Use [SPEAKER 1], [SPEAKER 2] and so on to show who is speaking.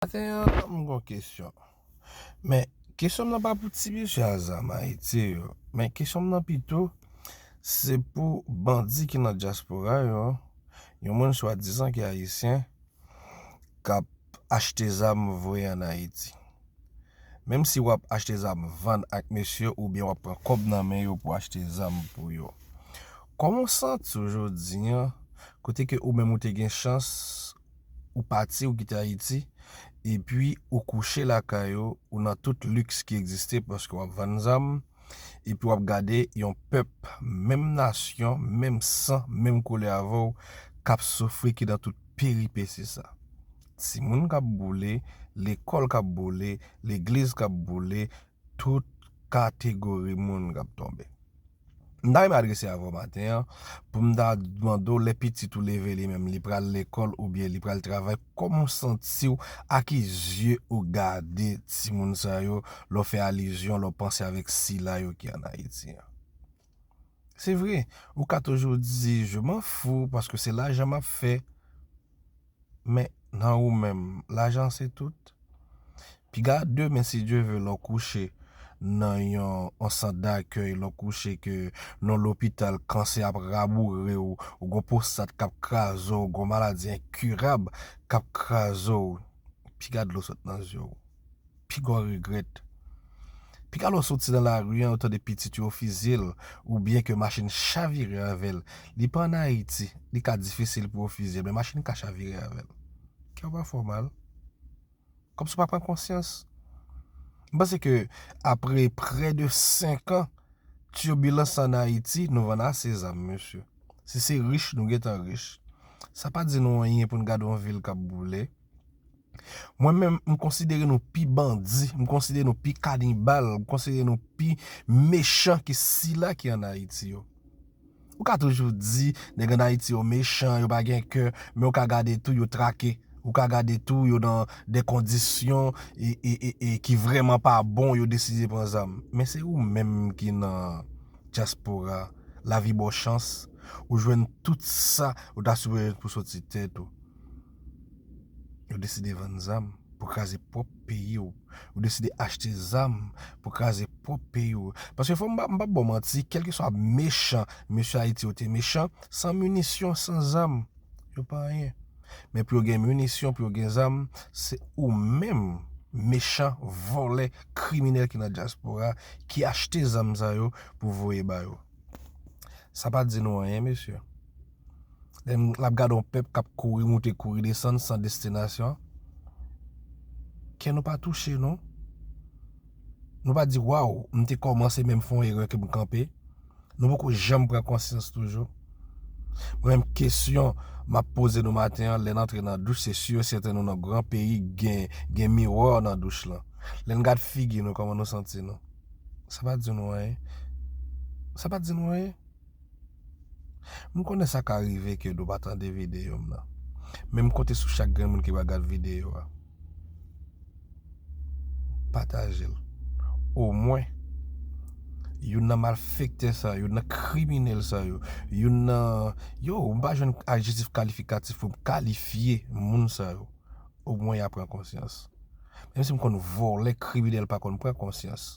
[SPEAKER 1] Maten an m gon kesyon men kesyon m nan pa pou ti mesye azam ayiti yo men kesyon m nan pito se pou bandi ki nan dyaspora yo yon moun swadizan ki ayisyen k ap achte zam voye an ayiti menm si w ap achte zam vann ak mesye oubyen w ap pran kòb nan men yo pou achte zam pou yo kòman w santi w jodi an kote ke ou menm ou te gen chans ou pati ou kite Ayiti epi ou kouche lakay ou, ou nan tout liks ki egziste paske w ap vann zam epi w ap gade yon pèp menm nasyon, menm san, menm koulè avè w k ap soufri ki nan tout peripesi sa. Timoun k ap boule, lekòl k ap boule, legliz k ap boule, tout kategori moun k ap tonbe. M ta renmen adrese avè w maten an pou m ta mande w lè pitit ou leve li menm li pral lekòl oubyen li pral travay kòman w santi w a ki zye ou gade timoun sa yo lè w fè alizyon lè w panse avèk sila yo ki an Ayiti an. Se vre, ou ka toujou di je m'en fous paske se lajan m ap fè. Men nan ou menm lajan se tout. Piga demen si Dye ve lè w kouche nan yon sant dakèy, lè w kouche ke nan yon lopital kansè ap raboure w, ou gen yon pwostat k ap kraze w, ou gen yon maladi enkirab k ap kraze w, piga dlo sot nan zye w. pigò regrèt. Piga lè w soti nan lari an ou tande pitit yo fizye l oubyen ke machin chavire avè l. Li pa an Ayiti, li ka difisil pou yo fizye l men machin ka chavire avè l. Kè w pa fè w mal? Kòmsi w pa pran konsyans? M panse ke apre prè de 5 an turbilans an Ayiti nou vann ase zam mesye. Si se rich nou gentan rich. Sa pa di nou anyen pou n gade yon vil k ap boule. Mwen menm m konsidere nou pi bandi, m konsidere nou pi kanibal, m konsidere nou pi mechan ke sila ki an Ayiti yo. Ou ka toujou di nèg an Ayiti yo mechan, yo pa gen kè, men ou ka gade tou yo trake, ou ka gade tou yo nan de kondisyon e ki vreman pa bon yo deside pran zam. Men se ou menm ki nan dyaspora, lavi ba w chans, ou jwenn tout sa ou ta sipoze pou soti tèt ou. Ou deside vann zam pou kraze pwòp peyi w. Ou deside achte zam pou kraze pwòp peyi w. Paske fò m pa ba w manti, kèlkeswa mechan mesye Ayiti yo te mechan, san minisyon, san zam, yo pa anyen. Men pou yo gen minisyon, pou yo gen zam, se ou menm mechan, vòlè, kriminèl ki nan dyaspora ki achte zam sa yo pou voye ba yo. Sa pa di nou anyen mesye. Lè m ap gade yon pèp k ap kouri moute kouri desann san destinasyon, kè nou pa touche non. Nou pa di waw m te kòmanse men m fè yon erè ke m kanpe. Nou poko janm pran konsyans toujou. Mwen menm kesyon m ap poze nou maten an lè n antre nan douch se si e sèten nou nan gran peyi gen miwò nan douch lan. Lè n gad figi nou kòman nou santi nou? Sa pa di nou anyen? Sa pa di nou anyen? M konnen sa ka rive ke nou pa tande videyo m nan, men m konte sou chak grenn moun ki pral gad videyo a. Pataje l. Omwen, youn nan malfektè sa yo, youn nan kriminèl sa yo, youn nan, yo, m pa jwenn ajetif kalifikatif pou m kalifye moun sa yo, omwen y a pran konsyans. Menm si m konn vòlè, kriminèl pa konn pran konsyans.